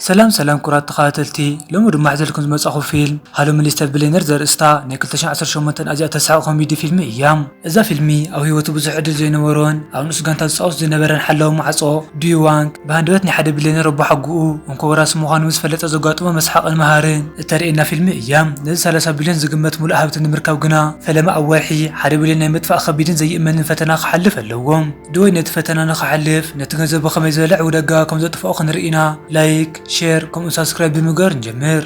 ሰላም ሰላም ክቡራት ተኻታተልቲ ሎሚ ድማ ሕዘልኩም ዝመጻኹ ፊልም ሃሎ ሚሊስተር ብሌነር ዘርእስታ ናይ ክልተ ሺሕ ዓሰርተ ሸሞንተ ኣዝያ ተስሕቕ ኮሚዲ ፊልሚ እያ። እዛ ፊልሚ ኣብ ህይወቱ ብዙሕ ዕድል ዘይነበሮን ኣብ ንኡስ ጋንታ ዝጻወት ዝነበረን ሓላዊ ማዕጾ ዱዩ ዋንግ ብሃንደበት ናይ ሓደ ብሌነር ኣቦሓጎኡ እንኮ ወራሲ ምዃኑ ምስ ፈለጠ ዘጓጥሞ መስሓቕን መሃርን እተርእየና ፊልሚ እያ። ነዚ ሰላሳ ቢልዮን ዝግመት ምሉእ ሃብቲ ንምርካብ ግና ፈለማ ኣብ ወርሒ ሓደ ቢልዮን ናይ ምጥፋእ ከቢድን ዘይእመንን ፈተና ክሓልፍ ኣለዎ። ዶይ ነቲ ፈተና ንክሓልፍ ነቲ ገንዘብ ብከመይ ዝበለ ዕውደጋ ከም ዘጥፍኦ ክንርኢ ኢና ላይክ ሸር ከምኡውን ሳብስክራይብ ብምግባር ንጀምር።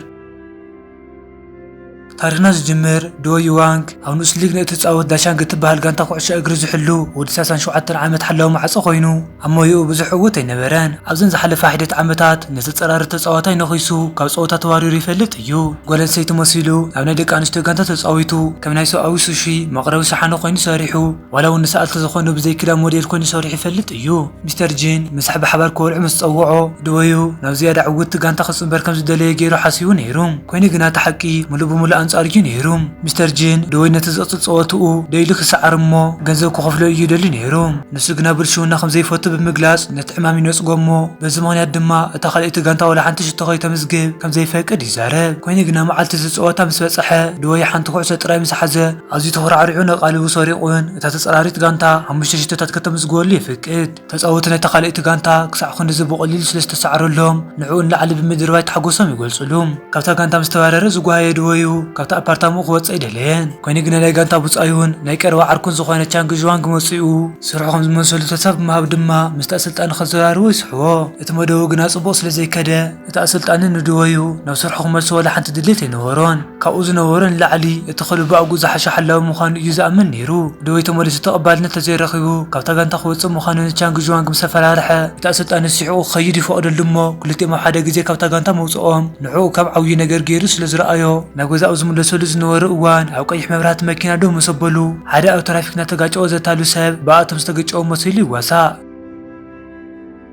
ታሪኽና ዝጅምር ዶ ዩዋንግ ኣብ ንኡስ ሊግ ንእትጻወት ዳሻንግ እትበሃል ጋንታ ኩዕሶ እግሪ ዝሕሉ ወዲ 37 ዓመት ሓላዊ ማዕጾ ኮይኑ ኣብ ሞያኡ ብዙሕ ዕውት ኣይነበረን። ኣብዘን ዝሓለፋ ሒደት ዓመታት ነቲ ጸራሪ ተጻዋታይ ነኺሱ ካብ ጸወታ ተባሪሩ ይፈልጥ እዩ። ጓል ኣንስተይቲ መሲሉ ኣብ ናይ ደቂ ኣንስትዮ ጋንታ ተጻዊቱ ከም ናይ ሰብኣዊ ሱሺ መቕረቢ ሸሓነ ኮይኑ ሰሪሑ። ዋላ እውን ንሰኣልቲ ዝኾኑ ብዘይ ክዳን ሞዴል ኮይኑ ሰሪሑ ይፈልጥ እዩ። ሚስተር ጂን ምሳሕ ብሓባር ክበልዑ ምስ ጸውዖ፣ ድወዩ ናብ ዝያዳ ዕውትቲ ጋንታ ክጽንበር ከም ዝደለየ ገይሩ ሓሲቡ ነይሩ። ኰይኑ ግና እቲ ሓቂ ምሉእ ብምሉእ ኣንጻሩ እዩ ነይሩ። ሚስተር ጂን፣ ድወይ ነቲ ዝቕጽል ጸወታኡ ደው ኢሉ ክሰዓር እሞ ገንዘብ ክኸፍሎ እዩ ይደሊ ነይሩ። ንሱ ግና ብልሽውና ከም ዘይፈቱ ብምግላጽ ነቲ ዕማም ይነጽጎ እሞ በዚ ምኽንያት ድማ እታ ካልኣይቲ ጋንታ ዋላ ሓንቲ ሽቶ ከይተምዝግብ ከም ዘይፈቅድ ይዛረብ። ኰይኑ ግና መዓልቲ እቲ ጸወታ ምስ በጽሐ ድወይ ሓንቲ ኩዕሶ ጥራይ ምስ ሓዘ፣ ኣዝዩ ተኹራዕሪዑን ኣቓልቡ ሰሪቑን እታ ተጻራሪት ጋንታ ሓሙሽተ ሽቶታት ከተምዝግበሉ የፍቅድ። ተጻወቲ ናይታ ካልኣይቲ ጋንታ ክሳዕ ክንድዚ ብቐሊሉ ስለ ዝተሳዕረሎም ንዕኡ ንላዕሊ ብምድርባይ ታሕጎሶም ይገልጹሉ። ካብታ ጋንታ ምስ ተባረረ ዝጓሃየ ድወዩ ካብቲ ኣፓርታምኡ ክወጽእ ኣይደለየን። ኮይኑ ግና ናይ ጋንታ ብጻዩን ናይ ቀረባ ዓርኩን ዝኾነ ቻንግ ዥዋንግ መጺኡ ስርሑ ከም ዝመልሰሉ ተስፋ ብምሃብ ድማ ምስቲ ኣሰልጣኒ ከዘራርቦ ይስሕቦ። እቲ መደቡ ግና ጽቡቕ ስለ ዘይከደ፣ እቲ ኣሰልጣኒ ንድወዩ ናብ ስርሑ ክመልሶ ዋላ ሓንቲ ድሌት ኣይነበሮን። ካብኡ ዝነበሮ ንላዕሊ እቲ ክለቡ ኣብኡ ዝሓሸ ሓላዊ ምዃኑ እዩ ዝኣምን ነይሩ። ድወይ ተመሊሱ ተቐባልነት እንተዘይረኺቡ ካብታ ጋንታ ክወጽእ ምዃኑ ንቻንግ ዥዋንግ ምስ ኣፈራርሐ፣ እቲ ኣሰልጣኒ ስሒቑ ክኸይድ ይፈቕደሉ እሞ ክልቲኦም ኣብ ሓደ ግዜ ካብታ ጋንታ ምውጽኦም ንዕኡ ከም ዓብዪ ነገር ገይሩ ስለ ዝረኣዮ፣ ናብ ገዛ ኣብ ዝምለሰሉ ዝነበረ እዋን ኣብ ቀይሕ መብራህቲ መኪና ደው ምስ ኣበሉ ሓደ ኣብ ትራፊክ እናተጋጨወ ዘታሉ ሰብ ብኣቶም ዝተገጨወ መሲሉ ይዋሳእ።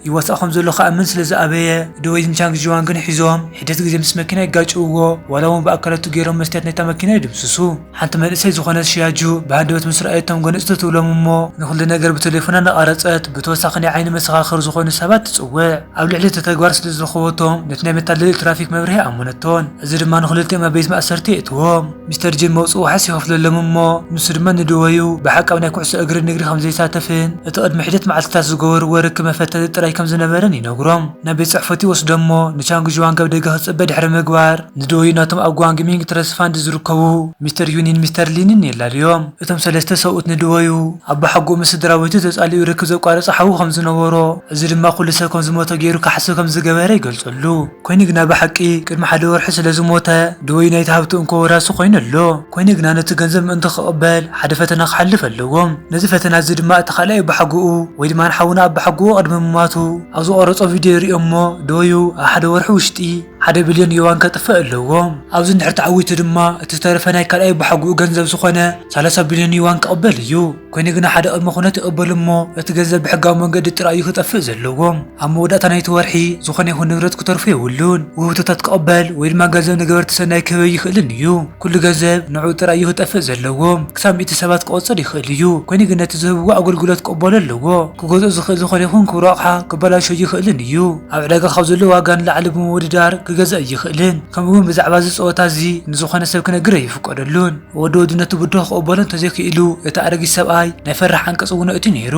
ይዋሳእ ከም ዘሎ ክኣምን ስለ ዝኣበየ፣ ድወይን ቻንግ ዥዋን ግን ሒዞም ሒደት ግዜ ምስ መኪና የጋጭውዎ፣ ዋላ እውን ብኣካላቱ ገይሮም መስትያት ናይታ መኪና ይድምስሱ። ሓንቲ መንእሰይ ዝኾነት ሺያጁ ብሃንደበት ምስ ረኣየቶም ጎነጽ ትብሎም እሞ ንኹሉ ነገር ብተሌፎና እናቛረጸት ብተወሳኺ ናይ ዓይኒ መሰኻኽር ዝኾኑ ሰባት ትጽውዕ። ኣብ ልዕሊ እቲ ተግባር ስለ ዝረኸበቶም ነቲ ናይ መታለሊ ትራፊክ መብርሂ ኣኣመነቶን፣ እዚ ድማ ንኽልቲኦም ኣብ ቤት ማእሰርቲ የእትዎም። ሚስተር ጂም መውጽኢ ዋሕስ ይኸፍለሎም እሞ ንሱ ድማ ንድወዩ ብሓቂ ኣብ ናይ ኩዕሶ እግሪ ንግዲ ከም ዘይሳተፍን እቲ ቅድሚ ሒደት መዓልቲታት ዝገበርዎ ርክብ መፈተቲ ጥራይ ከም ዝነበረን ይነግሮም። ናብ ቤት ጽሕፈቱ ይወስዶም እሞ ንቻንግ ዡዋንግ ኣብ ደገ ክጽበ ድሕሪ ምግባር ንድወዩ ናቶም ኣብ ጓንግ ሚንግ ትረስት ፋንድ ዝርከቡ ሚስተር ዩንን ሚስተር ሊንን የላልዮም። እቶም ሰለስተ ሰብኡት ንድወዩ ኣቦሓጎኡ ምስ ስድራቤቱ ተጻሊኡ ርክብ ዘቋረጸ ሓዉ ከም ዝነበሮ እዚ ድማ ኩሉ ሰብ ከም ዝሞተ ገይሩ ክሓስብ ከም ዝገበረ ይገልጸሉ። ኮይኑ ግና ብሓቂ ቅድሚ ሓደ ወርሒ ስለ ዝሞተ ድወዩ ናይቲ ሃብቲ እንኮ ወራሲ ኮይኑ ኣሎ። ኮይኑ ግና ነቲ ገንዘብ ምእንቲ ክቕበል ሓደ ፈተና ክሓልፍ ኣለዎ። ነዚ ፈተና እዚ ድማ እቲ ካልኣይ ኣባሓጎኡ ወይ ድማ ንሓውና ኣባሓጎኡ ቅድሚ ምማቱ ኣብ ዝቐረጾ ቪድዮ ይርእዮ እሞ ድወዩ ኣብ ሓደ ወርሒ ውሽጢ ሓደ ብልዮን ዮዋን ከጥፍእ ኣለዎ። ኣብዚ እንድሕር ተዓዊቱ ድማ እቲ ዝተረፈ ናይ ካልኣይ ኣባሓጎኡ ገንዘብ ዝኾነ ሰላሳ ብልዮን ዮዋን ክቕበል እዩ። ኮይኑ ግና ሓደ ቅድመ ኩነት እቕበሉ እሞ እቲ ገንዘብ ብሕጋዊ መንገዲ ጥራይ እዩ ክጠፍእ ዘለዎ። ኣብ መወዳእታ ናይቲ ወርሒ ዝኾነ ይኹን ንብረት ክተርፎ የብሉን። ውህብቶታት ክቕበል ወይ ድማ ገንዘብ ንገበርቲ ሰናይ ክህብ ኣይኽእልን እዩ። ኩሉ ገንዘብ ንዕኡ ጥራይ እዩ ክጠፍእ ዘለዎ። ክሳብ ሚእቲ ሰባት ክቖጽር ይኽእል እዩ፣ ኮይኑ ግን ነቲ ዝህብዎ ኣገልግሎት ክቕበሎ ኣለዎ። ክገዝኦ ዝኽእል ዝኾነ ይኹን ክቡር ኣቕሓ ክበላሾ ኣይኽእልን እዩ። ኣብ ዕዳጋ ካብ ዘሎ ዋጋ ንላዕሊ ብምውድዳር ክገዝእ ኣይኽእልን፣ ከምኡ'ውን ብዛዕባ እዚ ጸወታ እዚ ንዝኾነ ሰብ ክነግር ኣይፍቀደሉን። ወዲ ወዲ ነቲ ብድሆ ክቕበሎ እንተዘይክኢሉ፣ እቲ ኣረጊት ሰብኣይ ናይ ፈራሕ ዓንቀጽ እውን ኣእትዩ ነይሩ።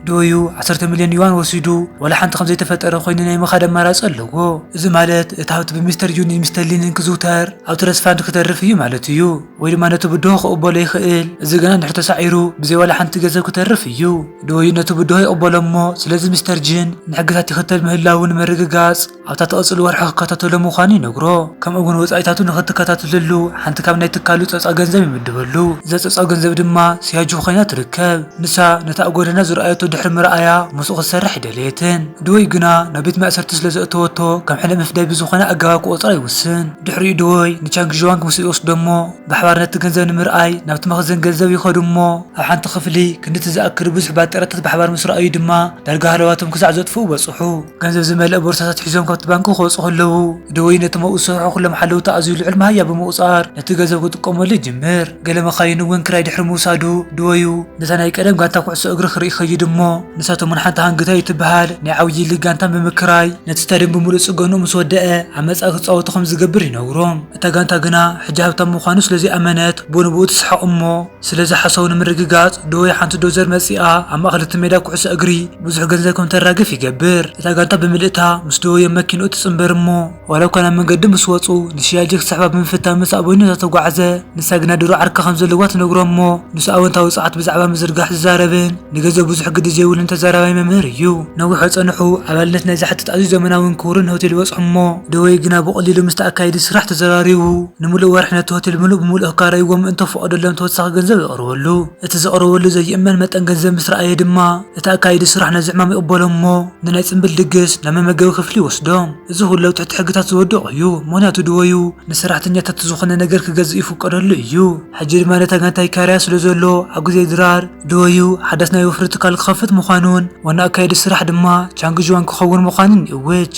ዶዩ ዓሰርተ ሚልዮን ዩዋን ወሲዱ ዋላ ሓንቲ ከም ዘይተፈጠረ ኰይኑ ናይ ምኻድ ኣማራጺ ኣለዎ። እዚ ማለት እቲ ሃብቲ ብሚስተር ጁኒን ሚስተር ሊንን ክዝውተር ኣብ ትረስት ፋንድ ክተርፍ እዩ ማለት እዩ። ወይ ድማ ነቲ ብድሆ ክቕበሎ ይኽእል፣ እዚ ግና እንድሕር ተሳዒሩ ብዘይ ዋላ ሓንቲ ገንዘብ ክተርፍ እዩ። ዶዩ ነቲ ብድሆ ይቕበሎ እሞ ስለዚ ሚስተር ጂን ንሕግታት ይኽተል ምህላዉ ንምርግጋጽ፣ ኣብታ ትቕጽል ወርሒ ክከታተሎ ምዃኑ ይነግሮ፣ ከምኡ'ውን ወጻኢታቱ ንኽትከታተለሉ ሓንቲ ካብ ናይ ትካሉ ጸጻ ገንዘብ ይምድበሉ። እዛ ጸጻ ገንዘብ ድማ ስያጁ ኮይና ትርከብ። ንሳ ነቲ ኣብ ጎደና ዝረኣየቶ ድሕሪ ምርኣያ ምስኡ ክትሰርሕ ኣይደለየትን። ድወይ ግና ናብ ቤት ማእሰርቲ ስለ ዘእተወቶ ከም ሕነ ምፍዳይ ብዝኾነ ኣገባብ ክቖጽራ ይውስን። ድሕሪኡ ድወይ ንቻንግ ዥዋንግ ምስኡ ይወስዶ'ሞ ብሓባር ነቲ ገንዘብ ንምርኣይ ናብቲ መኽዘን ገንዘብ ይኸዱ'ሞ፣ ኣብ ሓንቲ ክፍሊ ክንድቲ ዝኣክል ብዙሕ ባጤራታት ብሓባር ምስ ረኣዩ ድማ ዳርጋ ሃለዋቶም ክሳዕ ዘጥፍኡ በጽሑ። ገንዘብ ዝመልአ ቦርሳታት ሒዞም ካብቲ ባንኪ ክወጹ ከለዉ፣ ደወይ ነቶም ኣብኡ ዝሰርሑ ኵሎም ሓለውቲ ኣዝዩ ልዑል መሃያ ብምቝጻር ነቲ ገንዘብ ክጥቀመሉ ይጅምር። ገለ መካይን እውን ክራይ ድሕሪ ምውሳዱ፣ ደወዩ ነታ ናይ ቀደም ጋንታ ኵዕሶ እግሪ ክርኢ ይኸይድ እሞ ንሳቶም እውን ሓንቲ ሃንግታይ እትበሃል ናይ ዓብዪ ሊግ ጋንታ ብምክራይ ነቲ ስታድየም ብምሉእ ጽገንኡ ምስ ወደኣ ኣብ መጻኢ ክጻወቱ ከም ዝገብር ይነግሮም። እታ ጋንታ ግና ሕጂ ሃብታም ምዃኑ ስለ ዘይኣመነት ብኡንብኡ ትስሕቕ እሞ፣ ስለዚ ሓሳቡ ንምርግጋጽ ዶ ወይ ሓንቲ ዶዘር መጺኣ ኣብ ማእከል እቲ ሜዳ ኩዕሶ እግሪ ብዙሕ ገንዘብ ከም እተራግፍ ይገብር። እታ ጋንታ ብምልእታ ምስ ዶዮዮ መኪንኡ ትጽንበር እሞ ዋላ እኳ ናብ መንገዲ ምስ ወጹ ንሽያጀ ክስሕባ ብምፍታን ምስ ኣበኞታ ተጓዕዘ። ንሳ ግና ድሮ ዓርኪ ከም ዘለዋ ትነግሮ እሞ ንሱ ኣወንታዊ ጸዓት ብዛዕባ ምዝርጋሕ ዝዛረብን ንገዘ ብዙሕ ግዲ ዘይብሉን ተዛራባይ መምህር እዩ። ነዊሕ ኣጸንሑ ኣባልነት ናይ ዝሓትት ኣዝዩ ዘመናውን ክቡርን ሆቴል ይበጽሑ እሞ ደወይ ግና ብቐሊሉ ምስቲ ኣካየዲ ስራሕ ተዘራሪቡ ንምሉእ ወርሒ ነቲ ሆቴል ምሉእ ብምሉእ ክካረይዎ ምእንተ ክፈቐደሎም ተወሳኺ ገንዘብ የቕርበሉ። እቲ ዘቕርበሉ ዘይእመን መጠን ገንዘብ ምስ ረኣየ ድማ እቲ ኣካየዲ ስራሕ ነዚ ዕማም ይቕበሎ እሞ ንናይ ጽምብል ድግስ ናብ መመገቢ ክፍሊ ይወስዶ። እዚ ኹሉ ኣብ ትሕቲ ሕግታት ዝወደቑ እዩ ምኽንያቱ ድወዩ ንሰራሕተኛታቱ ዝኾነ ነገር ክገዝእ ይፍቀደሉ እዩ። ሕጂ ድማ ነታ ጋንታ ይካረያ ስለ ዘሎ ኣብ ግዜ ድራር፣ ደወዩ ሓዳስ ናይ ወፍሪ ትካል ክኸፍት ምዃኑን ዋና ኣካየዲ ስራሕ ድማ ቻንግ ዥዋንግ ክኸውን ምዃኑን ይእውጅ።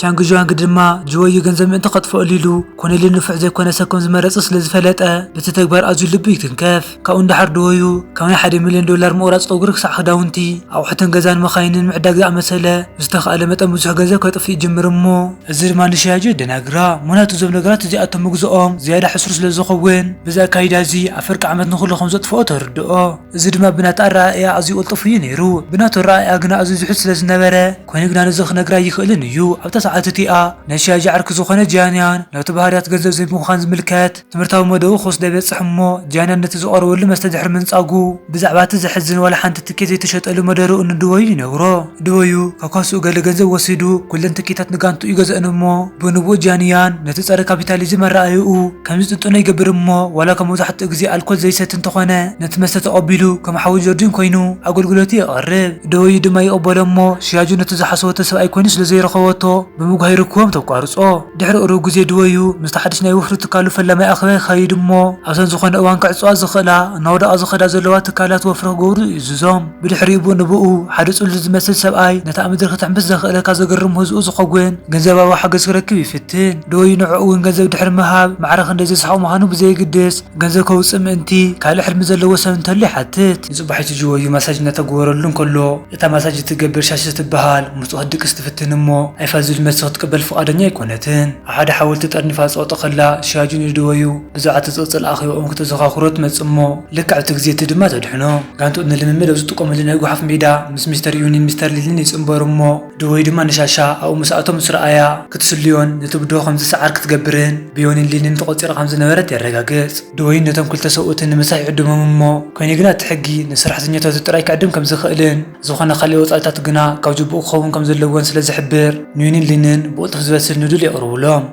ቻንግ ዥዋንግ ድማ ጅወዩ ገንዘብ ምእንቲ ከጥፍኣሉ ኢሉ ኮነሊ ንፉዕ ዘይኮነ ሰብ ከም ዝመረጸ ስለ ዝፈለጠ በቲ ተግባር ኣዝዩ ልቡ ይትንከፍ። ካብኡ ንደሓር ደወዩ ካብ ናይ ሓደ ሚልዮን ዶላር ምቑራጽ ጸጉሪ ክሳዕ ክዳውንቲ፣ ኣቑሑትን ገዛን መካይንን ምዕዳግ ዝኣመሰለ ብዝተኻእለ መጠን ብዙሕ ገንዘብ ከጥፍእ ይጅምር እሞ፣ እዚ ድማ ንሻያጆ የደናግራ፣ ምኽንያቱ እዞም ነገራት እዚኣቶም ምግዝኦም ዝያዳ ሕሱር ስለ ዝኸውን፣ በዚ ኣካይዳ እዚ ኣብ ፍርቂ ዓመት ንኹሉ ከም ዘጥፍኦ ተርድኦ። እዚ ድማ ብናታ ኣረኣእያ ኣዝዩ ቅልጡፍ እዩ ነይሩ፣ ብናቱ ኣረኣእያ ግና ኣዝዩ ዝሑል ስለ ዝነበረ፣ ኮይኑ ግና ነዚ ክነግር ኣይኽእልን እዩ። ኣብታ ሰዓት እቲኣ ናይ ሻያጆ ዓርኪ ዝኾነ ጂያንያን ናቱ ባህርያት ገንዘብ ዘይምዃን ዝምልከት፣ ትምህርታዊ መደቡ ክወስደ በጽሕ እሞ ጃይና ነቲ ዝቐረበሉ መስተ ድሕሪ ምንጻጉ ብዛዕባ እቲ ዘሕዝን ዋላ ሓንቲ ትኬት ዘይተሸጠሉ መደርኡ ንድበዩ ይነግሮ። ድበዩ ከካስኡ ገለ ገንዘብ ወሲዱ ኩለን ትኬታት ንጋንትኡ ይገዝእን እሞ ብንቡኡ ጃንያን ነቲ ጸረ ካፒታሊዝም ኣረኣእያኡ ከም ዝጥንጥኖ ይገብር እሞ ዋላ እኳ መብዛሕትኡ ግዜ ኣልኮል ዘይሰቲ እንተኾነ ነቲ መስተ ተቐቢሉ ከም ሓዊ ጆርጂን ኮይኑ ኣገልግሎቱ የቐርብ። ድበዩ ድማ ይቕበሎ እሞ ሽያጁ ነቲ ዝሓሰበቶ ሰብኣይ ኮይኑ ስለ ዘይረኸበቶ ብምጉሃይ ርክቦም ተቋርጾ። ድሕሪ ቅሩብ ግዜ ድወዩ ምስቲ ሓድሽ ናይ ወፍሪ ትካሉ ፈላማይ ኣኼባ የካይድ እሞ ኣብተን ዝኾነ እዋን ክዕጸዋ ዝኽእላ እናወደቓ ዝኸዳ ዘለዋ ትካላት ወፍሪ ክገብሩ ይእዝዞም። ብድሕሪኡ ብኡ ንብኡ ሓደ ጽሉል ዝመስል ሰብኣይ ነቲ ኣብ ምድሪ ክትሕምብስ ዘኽእለካ ዘገርም ምህዝኡ ዝኸውን ገንዘባዊ ሓገዝ ክረክብ ይፍትን። ድወዩ ንዕኡ እውን ገንዘብ ድሕሪ ምሃብ ማዕረ ክንደይ ዘስሕቕ ምዃኑ ብዘየግድስ ገንዘብ ከውጽእ ምእንቲ ካልእ ሕልሚ ዘለዎ ሰብ እንተሎ ይሓትት። ንጽባሒቱ ጅወዩ ማሳጅ እናተገበረሉ እንከሎ፣ እታ ማሳጅ እትገብር ሻሺ እትበሃል ምስ ጾት ክትድቅስ ትፍትን እሞ ኣይፋል ዝብል መልሲ ክትቅበል ፍቓደኛ ኣይኰነትን። ኣብ ሓደ ሓወልቲ ተጠርኒፋ ትጸቕጦ ከላ ሻጁ ንደወዩ ብዛዕባ እቲ ጽቕጽል ኣኼባኦም ክተዘኻኽሮ ትመጽእ እሞ ልክዕ ኣብቲ ግዜ እቲ ድማ ተድሕኖ። ጋንትኡ ንልምምድ ኣብ ዝጥቀመሉ ናይ ጐሓፍ ሜዳ ምስ ሚስተር ዩንን ሚስተር ሊልን ይጽንበሩ እሞ ደወዩ ድማ ንሻሻ ኣብኡ ምስ ኣተወ ምስ ረኣያ ክትስልዮን ነቲ ብድሆ ከም ዝሰዓር ክትገብርን ብዮኒን ሊንን ተቖጺራ ከም ዝነበረት የረጋግጽ። ደወዩ ነቶም ክልተ ሰብኡትን ንምሳሕ ይዕድሞም እሞ፣ ኮይኑ ግና እቲ ሕጊ ንሰራሕተኛታቱ ጥራይ ክዕድም ከም ዝኽእልን ዝኾነ ካልእ ወጻኢታት ግና ካብ ጁቡኡ ክኸውን ከም ዘለዎን ስለ ዝሕብር ንዩንን ሊንን ብቕልጡፍ ዝበስል ኑዱል የቕርቡሎም።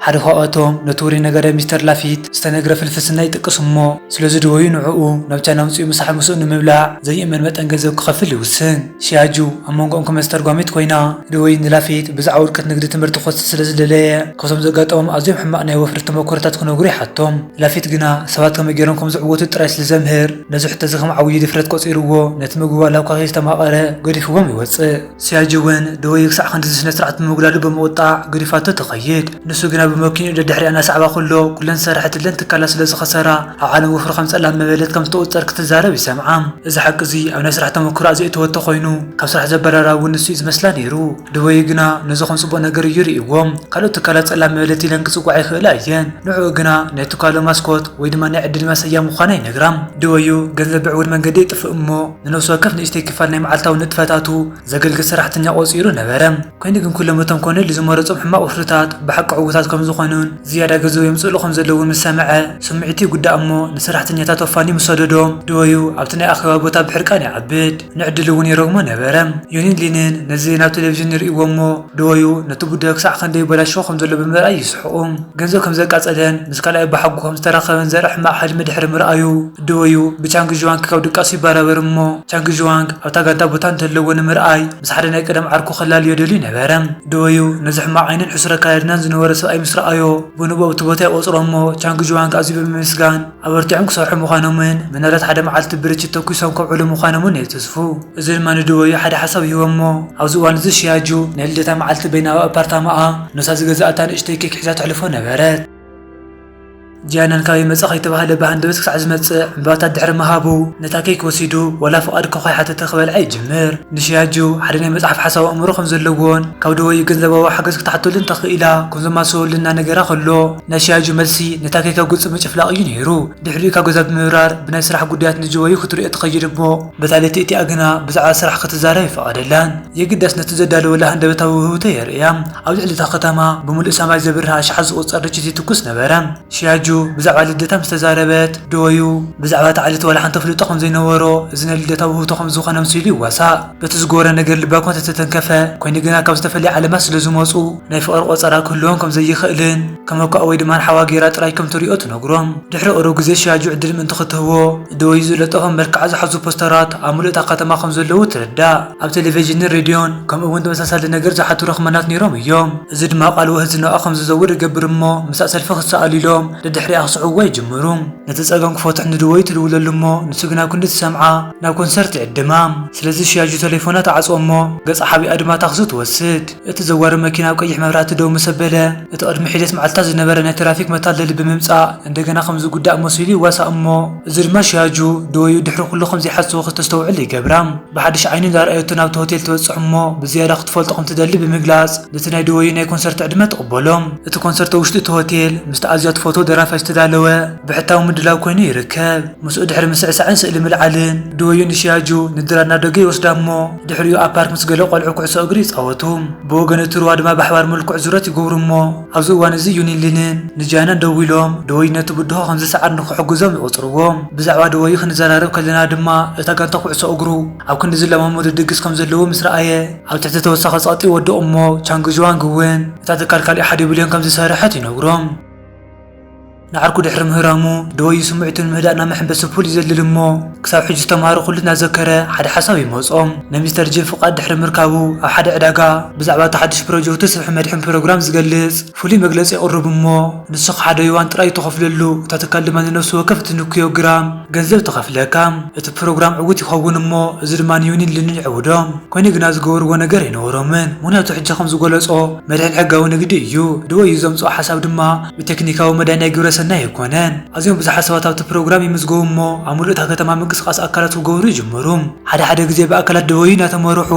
ሓደ ካብኣቶም ነቲ ውሩይ ነጋዳይ ሚስተር ላፊት ዝተነግረ ፍልፍስና ይጥቅስ እሞ ስለ ዝድወዩ ንዕኡ ናብ ቻይና ኣምጺኡ ምሳሕ ምስኡ ንምብላዕ ዘይእመን መጠን ገንዘብ ክኸፍል ይውስን። ሲያጁ ኣብ መንጎኦም ከም ኣስተርጓሚት ኮይና ደወይን ንላፊት ብዛዕባ ውድቀት ንግዲ ትምህርቲ ክወስድ ስለ ዝደለየ ካብቶም ዘጋጠሞም ኣዝዮም ሕማቕ ናይ ወፍሪ ተመክሮታት ክነግሩ ይሓቶም። ላፊት ግና ሰባት ከመይ ገይሮም ከም ዝዕወቱ ጥራይ ስለ ዘምህር ነዚ ሕቶ'ዚ ከም ዓብዪ ድፍረት ቆጺርዎ ነቲ ምግቢ ዋላ እኳ ከይስተማቐረ ገዲፍዎም ይወጽእ። ሲያጁ እውን ደወይ ክሳዕ ክንድዚ ስነ-ስርዓት ብምጉዳሉ ብምቝጣዕ ገዲፋቶ ትኸይድ። ንሱ ግና ብመኪንኡ ደድሕሪኣ እናሰዓባ ከሎ ኩለን ዝሰርሐትለን ትካላት ስለ ዝኸሰራ፣ ኣብ ዓለም ወፍሪ ከም ጸላም መበለት ከም ዝተቑጸር ክትዛረብ ይሰምዓ። እዚ ሓቂ እዚ ኣብ ናይ ስራሕ ተመክሮኣ ዘእተወቶ ኮይኑ፣ ካብ ስራሕ ዘባረራ እውን ንሱ'ዩ ዝመስላ ነይሩ። ድበዩ ግና ነዚ ከም ጽቡቕ ነገር እዩ ርእይዎ። ካልኦት ትካላት ጸላም መበለት ኢለን ክጽውዓ ይኽእላ እየን፣ ንዕኡ ግና ናይ ትካሎም ማስኮት ወይ ድማ ናይ ዕድል ማሰያ ምዃና ይነግራ። ድበዩ ገንዘብ ብዕዉር መንገዲ የጥፍእ እሞ ንነብሲ ወከፍ ንእሽተይ ክፋል ናይ መዓልታዊ ንጥፈታቱ፣ ዘገልግል ሰራሕተኛ ቆጺሩ ነበረ። ኰይኑ ግን ኵሎም እቶም ኮኔል ዝመረጾም ሕማቕ ወፍርታት ብሓቂ ዕዉታት ከም ዝዀኑን ዝያዳ ገንዘብ የምጽእሉ ከም ዘለዉን ምስ ሰምዐ፣ ስምዒቱ ይጕዳእ እሞ ንሰራሕተኛታቱ ኣፋንዩ ምስ ሰደዶ፣ ደወዩ ኣብቲ ናይ ኣኼባ ቦታ ብሕርቃን ይዓብድ። ንዕድሉ እውን ይረግሞ ነበረ። ዮኒን ሊንን ነዚ ናብ ተለቪዥን ይርእይዎ እሞ፣ ደወዩ ነቲ ጉዳዩ ክሳዕ ከንደይ ይበላሾ ከም ዘሎ ብምርኣይ ይስሕቑ። ገንዘብ ከም ዘቃጸለን ምስ ካልኣዩ ብሓጉ ከም ዝተራኸበን ዘርኢ ሕማቕ ሕልሚ ድሕሪ ምርኣዩ፣ ደወዩ ብቻንግ ዥዋንግ ክሳብ ድቃሱ ይበራበር እሞ ቻንግ ዥዋንግ ኣብታ ጋንታ ቦታ እንተለዎ ንምርኣይ ምስ ሓደ ናይ ቀደም ዓርኩ ክላልዮ ደልዩ ነበረ። ደወዩ ነዚ ሕማቕ ዓይኒን ሕሱር ኣከዳድናን ዝነበሮ ሰብኣይ ምስ ረኣዮ፣ ብንቡእ ኣብቲ ቦታ ይቖጽሮ እሞ ቻንግ ዥዋንግ ኣዝዩ ብምምስጋን፣ ኣበርቲዖም ክሰርሑ ምዃኖምን ምናልባት ሓደ መዓልቲ ብርችት ተኲሶም ከብዕሉ ምዃኖምን የትስፉ። እዚ ድማ ንድወዩ ሓደ ሓሳብ ይህቦም'ሞ ኣብዚ እዋን እዚ ሺያጁ ናይ ልደታ መዓልቲ በይና ኣብ ኣፓርታማኣ ኖሳ ዝገዝኣታ ንእሽተይ ኬክ ሒዛ ተሕልፎ ነበረት። ጂያናን ካበይ መጻኺ እተባህለ ብሃንደበት ክሳዕ ዝመጽእ ዕምባባታት ድሕሪ ምሃቡ ነታ ኬክ ወሲዱ ዋላ ፍቓድ እኳ ከይሓተተ ክበልዓ ይጅምር። ንሺያጁ ሓደ ናይ መጽሓፍ ሓሳብ ኣእምሮ ከም ዘለዎን ካብ ድወዩ ገንዘባዊ ሓገዝ ክትሓተሉ እንተ ክኢላ ከም ዘማስወሉ እናነገራ ከሎ፣ ናይ ሺያጁ መልሲ ነታ ኬከ ጉንጺ ምጭፍላቕ እዩ ነይሩ። ድሕሪኡ ካብ ገዛ ብምብራር ብናይ ስራሕ ጉዳያት ንጁወዩ ክትርእዮ ትኸይድ እሞ በታ ለይቲ እቲኣ ግና ብዛዕባ ስራሕ ክትዛረብ ኣይፈቐደላን። የግዳስ ነቲ ዘዳለወላ ሃንደበታዊ ውህብቶ የርእያ። ኣብ ልዕሊ እታ ከተማ ብምሉእ ሰማይ ዘብርህ ኣሽሓት ዝቑጸር ርችት ይትኩስ ነበረ። ሺያጁ ብዛዕባ ልደታ ምስ ተዛረበት፣ ጁወዩ ብዛዕባ እታ ዕለት ዋላ ሓንቲ ኣፍልጦ ከም ዘይነበሮ፣ እዚ ናይ ልደታ ውህብቶ ከም ዝኾነ ኣምሲሉ ይዋሳእ። በቲ ዝጎረ ነገር ልባ እኳ እንተ ተተንከፈ፣ ኰይኑ ግና ካብ ዝተፈልየ ዓለማት ስለ ዝመጹ ናይ ፍቕሪ ቈጸራ ክህልዎም ከም ዘይኽእልን ከም እኳ ወይ ድማ ሓዋ ገይራ ጥራይ ከም ትርእዮ ትነግሮም። ድሕሪ ቕሩብ ግዜ ሽያጁ ዕድል ምእንቲ ኽትህቦ፣ ደወዩ ዝለጠፎም መልክዓ ዝሓዙ ፖስተራት ኣብ ምሉእታ ኸተማ ከም ዘለዉ ትርዳእ። ኣብ ተለቨዥንን ሬድዮን ከምኡ እውን ተመሳሳሊ ነገር ዝሓቱ ረኽመናት ነይሮም እዮም። እዚ ድማ ቓል ወህት ዝናኣ ከም ዝዘውር ይገብር እሞ ምስኣ ሰልፊ ክትሰኣሉ ኢሎም ደድሕሪኣ ክስዕብዋ ይጅምሩ። ነቲ ጸገም ክፈትሑ ንደወዩ ትድውለሉ እሞ ንሱ ግና ኣብ ክንዲ ዝሰምዓ፣ ናብ ኮንሰርት ይዕድማ። ስለዚ ሽያጁ ተሌፎና ትዓጽዎ እሞ ገጻ ሓቢኣ ድማ ታክሲ ትወስድ። እቲ ዘዋሪ መኪና ኣብ ቀይሕ መብራህቲ ደው ምስ ኣበለ፣ እቲ ቅድሚ ሒደት መዓልትታት ዝነበረ ናይ ትራፊክ መታለሊ ብምምጻእ እንደገና ከም ዝጉዳእ መሲሉ ይዋሳእ እሞ እዚ ድማ ሽያጁ ድወዩ ድሕሪ ኩሉ ከም ዘይሓሰቦ ክተስተውዕል ይገብራ። ብሓድሽ ዓይኒ እንዳርኣየቶ ናብቲ ሆቴል ትበጽሕ እሞ ብዝያዳ ክትፈልጦ ከም ትደሊ ብምግላጽ ነቲ ናይ ድወዩ ናይ ኮንሰርት ዕድመ ትቕበሎ። እቲ ኮንሰርት ኣብ ውሽጢ እቲ ሆቴል ምስቲ ኣዝያ ትፈትዎ ደራፋይ ዝተዳለወ፣ ብሕታዊ ምድላው ኮይኑ ይርከብ። ምስኡ ድሕሪ ምስዕሳዕን ስእሊ ምልዓልን፣ ዱወዩ ንሺያጁ ንድራር ናዶገ ይወስዳ'ሞ፣ ድሕሪኡ ኣብ ፓርክ ምስ ገለ ቆልዑ ኩዕሶ እግሪ ይጻወቱ። ብወገን እቲ ሩባ ድማ ብኣሕባር ምልኩዕ ዙረት ይጉብሩ'ሞ፣ ኣብዚ እዋን'ዚ ዩኒንሊንን ንጂያናን ደዊሎም ዱወዩ ነቲ ብድሆ ከም ዝሰዓር ንኽሕግዞም ይቑጽርዎ። ብዛዕባ ዱወዩ ክንዘራረብ ከለና ድማ፣ እታ ጋንታ ኩዕሶ እግሩ ኣብ ክንዲ ዝለማመዱ ድግስ ከም ዘለዎ ምስ ረኣየ፣ ኣብ ትሕቲ ተወሳኺ ጸቕጢ ይወድቕ'ሞ፣ ቻንግ ዡዋንግ እውን እታ ትካል ካልእ ሓደ ቢልዮን ከም ዝሰርሐት ይነግሮም። ንዓርኩ ድሕሪ ምህራሙ፣ ደወዩ ስምዒቱ ንምህዳእ ናብ መሐንበሲ ፑል ይዘልል እሞ፣ ክሳብ ሕጂ ዝተማህሮ ኩሉ እናዘከረ ሓደ ሓሳብ ይመጾ። ናይ ሚስተር ጂም ፍቓድ ድሕሪ ምርካቡ፣ ኣብ ሓደ ዕዳጋ፣ ብዛዕባ እቲ ሓድሽ ፕሮጀክቱ ስፍሒ መድሕን ፕሮግራም ዝገልጽ ፍሉይ መግለጺ የቕርብ እሞ፣ ንሱ ክኣ ሓደ ዩዋን ጥራይ እዩ ተኸፍለሉ፣ እታ ትካል ድማ ንነፍሲ ወከፍ እትንክዮ ግራም ገንዘብ ትኸፍለካ። እቲ ፕሮግራም ዕዉት ይኸውን እሞ፣ እዚ ድማ ንዩኒን ሊንን ይዕውዶ። ኮይኑ ግና ዝገበርዎ ነገር ኣይነበሮምን፣ ምኽንያቱ ሕጂ ከም ዝገለጾ መድሕን ሕጋዊ ንግዲ እዩ፣ ደወዩ ዘምጽኦ ሓሳብ ድማ፣ ብቴክኒካዊ መዳይ ናይ ግብረ ሰናይ ኣይኮነን። ኣዝዮም ብዙሓት ሰባት ኣብቲ ፕሮግራም ይምዝገቡ እሞ ኣብ ምሉእ እታ ከተማ ምንቅስቓስ ኣካላት ክገብሩ ይጅምሩ። ሓደ ሓደ ግዜ ብኣካላት ደወዩ እናተመርሑ፣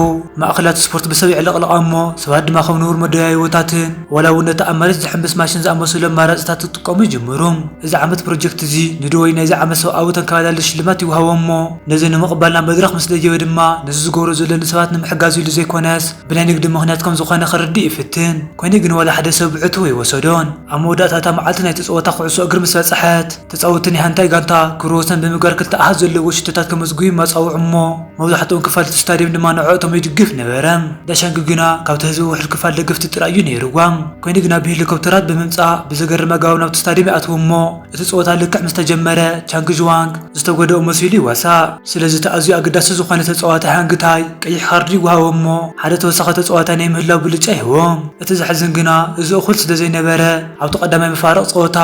ማእከላት ስፖርት ብሰብ ይዕለቕለቓ እሞ ሰባት ድማ ከም ንቡር መደያይቦታትን ዋላ እውን ነቲ ኣብ መሬት ዝሕምብስ ማሽን ዝኣመሰሉ ኣማራጺታት ክጥቀሙ ይጅምሩ። እዚ ዓመት ፕሮጀክት እዚ ንደወዩ ናይዚ ዓመት ሰብኣዊ ተንከባላሊ ሽልማት ይወሃቦ እሞ ነዚ ንምቕባል ናብ መድረኽ ምስ ደየበ ድማ ነዚ ዝገብሮ ዘሎ ንሰባት ንምሕጋዝ ኢሉ ዘይኮነስ ብናይ ንግዲ ምኽንያት ከም ዝዀነ ክርድእ ይፍትን። ኰይኑ ግን ዋላ ሓደ ሰብ ብዕቱብ ኣይወሰዶን። ኣብ መወዳእታ እታ መዓልቲ ናይቲ ጸወታ ኩዕሶ እግሪ ምስ በጽሐት፣ ተጻወትቲ ናይ ሓንታይ ጋንታ ክብረ ወሰን ብምግባር ክልተ ኣሃዝ ዘለዎ ሽቶታት ከመዝግቡ ይመጻውዑ እሞ መብዛሕትኦም ክፋል እቲ ስታድየም ድማ ንዕኦቶም ይድግፍ ነበረ። ዳሻንኪ ግና ካብቲ ህዝቢ ውሑድ ክፋል ደገፍቲ ጥራይ እዩ ነይርዋ። ኰይኑ ግና ብሄሊኮፕተራት ብምምጻእ ብዘገርም ኣገባብ ናብቲ ስታድየም ይኣትዉ እሞ፣ እቲ ጸወታ ልክዕ ምስ ተጀመረ ቻንግ ዥዋንግ ዝተጎደኦ መሲሉ ይዋሳእ። ስለዚ እቲ ኣዝዩ ኣገዳሲ ዝኾነ ተጻዋታይ ሃንግ ታይ ቀይሕ ካርዲ ይወሃቦ እሞ ሓደ ተወሳኺ ተጻዋታይ ናይ ምህላው ብልጫ ይህቦም። እቲ ዘሕዝን ግና እዚ እኹል ስለዘይነበረ ኣብቲ ቀዳማይ መፋርቕ ጸወታ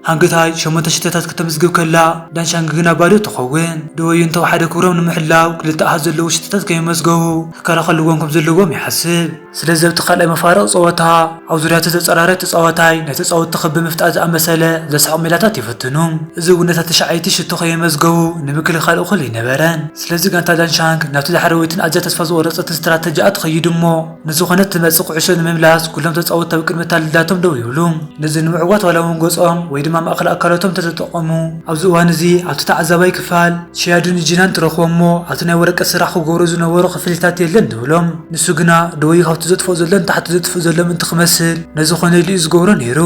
ሃንግ ታይ ሸሞንተ ሽቶታት ክተምዝግብ ከላ ዳን ሻንግ ግና ባዶ ትኸውን። ድወዩ እንተወሓደ ክብሮም ንምሕላው ክልተ ኣሃዝ ዘለዎ ሽቶታት ከየመዝገቡ ክከላኸልዎም ከምዘለዎም ይሓስብ። ስለዚ ኣብቲ ካልኣይ መፋርቕ ጸወታ፣ ኣብ ዙርያ እቲ ዘጸራረ ተጻዋታይ፣ ናይ ተጻወትቲ ክቢ ምፍጣር ዝኣመሰለ ዘስሕቕ ሜላታት ይፍትኑ። እዚ እውን ነታ ትሽዓይቲ ሽቶ ከየመዝገቡ ንምክልኻል እኹል ኣይነበረን። ስለዚ ጋንታ ዳንሻንክ ናብቲ ዳሕረወይትን ኣዝያ ተስፋ ዝቖረጸትን ስትራተጂኣ ትኸይድ እሞ ንዝኾነት ትመጽእ ኩዕሾ ንምምላስ ኩሎም ተጻወትቲ ኣብ ቅድሚ ኣታልላቶም ደው ይብሉ። ነዚ ንምዕዋት ዋላ እውን ገጾም ወይ ድማ ማእከል ኣካላቶም እንተተጠቐሙ፣ ኣብዚ እዋን እዚ ኣብቲ ተዓዛባይ ክፋል፣ ቺያዱን ጂናን ትረኽቦም እሞ ኣብቲ ናይ ወረቀት ስራሕ ክገብሩ ዝነበሩ ክፍሊታት የለን ትብሎም። ንሱ ግና ደወዩ ካብቲ ዘጥፍኦ ዘሎ ንታሕቲ ዘጥፍእ ዘሎ ምእንቲ ክመስል ነዚ ኮነ ኢሉ እዩ ዝገብሮ ነይሩ።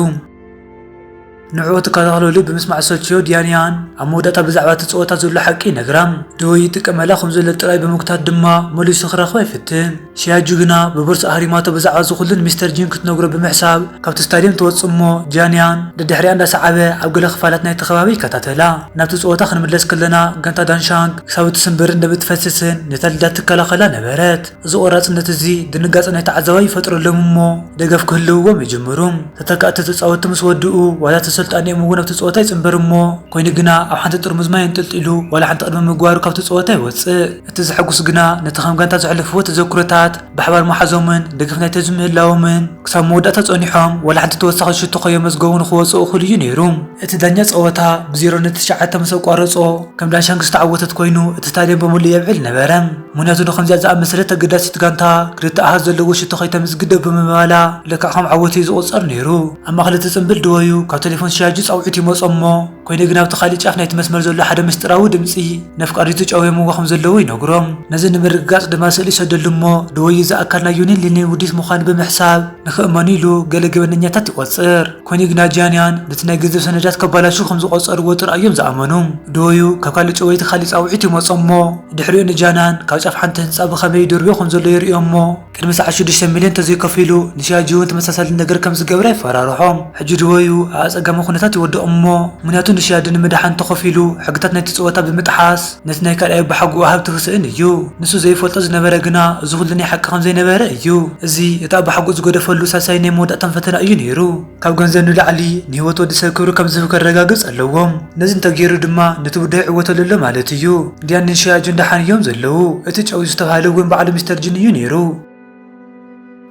ንዕኡ ትከታተለሉ ብምስማዕ ዝሰልችዮ ዲያንያን ኣብ መወዳእታ ብዛዕባ እቲ ጸወታ ዘሎ ሓቂ ይነግራ። ደወዩ ይጥቀመላ ከም ዘሎ ጥራይ ብምግታት ድማ መሊሱ ክረኽባ ይፍትን። ሺያጁ ግና ብቦርሳ ኣህሪማቶ ብዛዕባ እዚ ኩሉ ንሚስተር ጂን ክትነግሮ ብምሕሳብ ካብቲ ስታድየም ትወጽእ እሞ ጂያንያን ደድሕሪኣ እንዳሰዓበ ኣብ ገለ ክፋላት ናይቲ ከባቢ ይከታተላ። ናብቲ ጸወታ ክንምለስ ከለና፣ ጋንታ ዳንሻንግ ክሳብ እትስንብር እንደብ እትፈስስን ንተልዳ እትከላኸላ ነበረት። እዚ ቆራጽነት እዚ ድንጋጸ ናይ ተዓዛባይ ይፈጥረሎም እሞ ደገፍ ክህልውዎም ይጅምሩ። ተተካእቲ ተጻወትቲ ምስ ወድኡ ዋላ እቲ ኣሰልጣኒኦም እውን ኣብቲ ጸወታ ይጽንበር እሞ ኮይኑ ግና ኣብ ሓንቲ ጥርሙዝ ማይ ኣንጠልጢሉ ዋላ ሓንቲ ቅድሚ ምግባሩ ካብቲ ጸወታ ይወጽእ። እቲ ዘሐጉስ ግና ነቲ ከም ጋንታ ዘሕለፍዎ ተዘክሮታት ብሓባር ምሓዞምን ደገፍ ናይ ተዝሚ ምህላዎምን ክሳብ መወዳእታ ጸኒሖም ዋላ ሓንቲ ተወሳኺት ሽቶ ከየመዝገቡ ንኽወጽኡ እኹል እዩ ነይሩ። እቲ ዳኛ ጸወታ ብ ዜሮ ን ትሽዓተ ምስ ኣቋረጾ ከም ዳንሻንግ ዝተዓወተት ኮይኑ እቲ ስታድየም ብምሉእ የብዕል ነበረ። ምኽንያቱ ንኸምዚኣ ዝኣመሰለት ኣገዳሲት ጋንታ ክልተ ኣሃዝ ዘለዎ ሽቶ ከይተምዝግብ ደው ብምባላ ልክዕ ከም ዓወት እዩ ዝቑጸር ነይሩ። ኣብ ማእከል እቲ ጽንብል ደወዩ ካብ ተሌፎን ሺያጁ ጻውዒት ይመጾም እሞ፣ ኮይደ ግን ኣብቲ ካልእ ጫፍ ናይቲ መስመር ዘሎ ሓደ ምስጢራዊ ድምጺ ነፍቃሪቱ ጨውዮምዎ ከም ዘለዉ ይነግሮም። ነዚ ንምርግጋጽ ድማ ስእሊ ይሰደሉ እሞ ደወዩ እዚ ኣካል ናይ ዩኒን ሊኒን ውዲት ምዃኑ ብምሕሳብ ንክእመኑ ኢሉ ገለ ገበነኛታት ይቆጽር። ኮይነ ግና ጂያንያን ነቲ ናይ ገንዘብ ሰነዳት ከባላሽው ከም ዝቆጸርዎ ጥራይ እዮም ዝኣመኑ። ደወዩ ካብ ካልእ ጨወይቲ ካልእ ጻውዒት ይመጾም እሞ ድሕሪኡ ንጂያንያን ካብ ጫፍ ሓንቲ ህንጻ ብኸመይ ይድርብዮ ከም ዘሎ የርእዮ እሞ ቅድሚ ሰዓት ሽዱሽተ ሚልዮን ተዘይከፊሉ ንሻጂውን ተመሳሳሊ ነገር ከም ዝገብረ ይፈራርሖም። ሕጂ ድወዩ ኣብ ኣጸጋሚ ኩነታት ይወድቕ እሞ ምክንያቱ ንሻጂ ንምድሓን ተኸፊሉ ሕግታት ናይቲ ጸወታ ብምጥሓስ ነቲ ናይ ካልኣይ ኣቦሓጎኡ ሃብቲ ክስእን እዩ። ንሱ ዘይፈልጦ ዝነበረ ግና እዚ ኩሉ ናይ ሓቂ ከም ዘይነበረ እዩ። እዚ እቲ ኣቦሓጎኡ ዝገደፈሉ ሳልሳይን ናይ መወዳእታን ፈተና እዩ ነይሩ። ካብ ገንዘብ ንላዕሊ ንህይወት ወዲ ሰብ ክብሪ ከም ዝህብ ከረጋግጽ ኣለዎ። ነዚ እንተ ገይሩ ድማ ነቲ ጉዳይ ይዕወተሉ ኣሎ ማለት እዩ። ዲያንን ሺያጁን ደሓን እዮም ዘለዉ። እቲ ጨውዩ ዝተባህለ እውን ባዕሉ ሚስተር ጂን እዩ ነይሩ።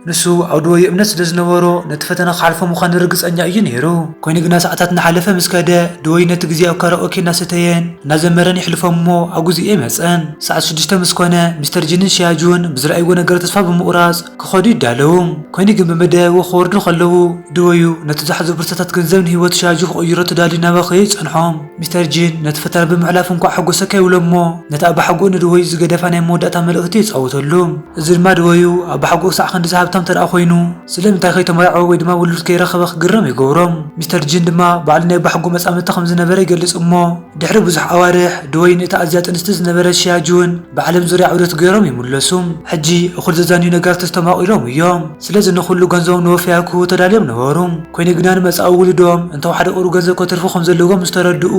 ንሱ ኣብ ድወዩ እምነት ስለ ዝነበሮ ነቲ ፈተና ክሓልፎ ምዃኑ ርግጸኛ እዩ ነይሩ። ኰይኑ ግና ሰዓታት እናሓለፈ ምስ ከደ፣ ድወዩ ነቲ ግዜ ኣብ ካራኦኬ እናሰተየን እናዘመረን የሕልፎ እሞ ኣብ ግዜኡ ኣይመጸን። ሰዓት ሽዱሽተ ምስ ኰነ፣ ሚስተር ጂንን ሺያጁን ብዝረኣይዎ ነገር ተስፋ ብምቝራጽ፣ ክኸዱ ይዳለዉ፣ ኮይኑ ግን ብመደያይቦ ክወርዱ ከለዉ ድወዩ ነቲ ዝሓዝኦ ብርሰታት ገንዘብ ንህይወት ሻያጁ ክቕይሮ ተዳልዩ እናበኸየ ይጸንሖም። ሚስተር ጂን ነቲ ፈተና ብምሕላፉ እንቋዕ ሓጎሰካ ይብሎ እሞ ነቲ ኣባሓጎኡ ንድወዩ ዝገደፋ ናይ መወዳእታ መልእኽቲ የጻውተሉ። እዚ ድማ ድወዩ ኣባሓጎኡ ክሳዕ ክንድዚ ሃብታም እንተደኣ ኮይኑ ስለምንታይ ከይተመርዓወ ወይ ድማ ውሉድ ከይረኸበ ክግረም ይገብሮም። ሚስተር ጂን ድማ ባዕሉ ናይ ኣባሓጎኡ መጻምድቲ ከም ዝነበረ ይገልጽ እሞ፣ ድሕሪ ብዙሕ ኣዋርሕ፣ ድወይን እታ ኣዝያ ጥንስቲ ዝነበረት ሺያ ጁን ብዓለም ዙርያ ዑደት ገይሮም ይምለሱ። ሕጂ እኹል ዘዛንዩ ነገራት ተስተማቒሮም እዮም፣ ስለዚ ንዅሉ ገንዘቦም ንወፈያ ክህቡ ተዳልዮም ነበሩ። ኰይኑ ግና፣ ንመጻኢ ውሉዶም እንተወሓደ ቍሩብ ገንዘብ ከትርፉ ከም ዘለዎም ምስ ተረድኡ፣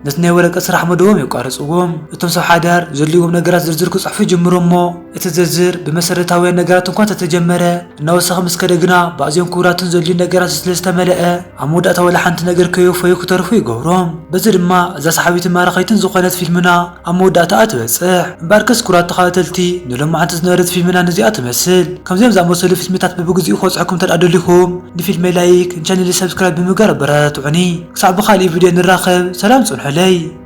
ነቲ ናይ ወረቀት ስራሕ መደቦም የቋርጽዎ። እቶም ሰብ ሓዳር ዘድልይዎም ነገራት ዝርዝር ክጽሕፉ ይጅምሩ እሞ፣ እቲ ዝርዝር ብመሰረታውያን ነገራት እንኳ እንተተጀመረ፣ እናወሰኸ ምስ ከደ ግና ብኣዝዮም ክቡራትን ዘድልዩን ነገራት ስለ ዝተመልአ ኣብ መወዳእታ ዋላ ሓንቲ ነገር ከየውፈዩ ክተርፉ ይገብሮም። በዚ ድማ እዛ ሰሓቢትን ማራኺትን ዝኾነት ፊልምና ኣብ መወዳእታኣ ትበጽሕ። እምበኣርከስ ክቡራት ተኸታተልቲ ንሎማዓንቲ ዝነበረት ፊልምና ነዚኣ ትመስል። ከምዚኦም ዝኣመሰሉ ፊልምታት በብግዚኡ ክበጽሑኩም እንተድኣ ደሊኹም ንፊልመይ ላይክ ንቻነለይ ሳብስክራይብ ብምግባር ኣበረታትዑኒ። ክሳዕ ብኻልእ ቪድዮ ንራኸብ ሰላም ጽንሑለይ።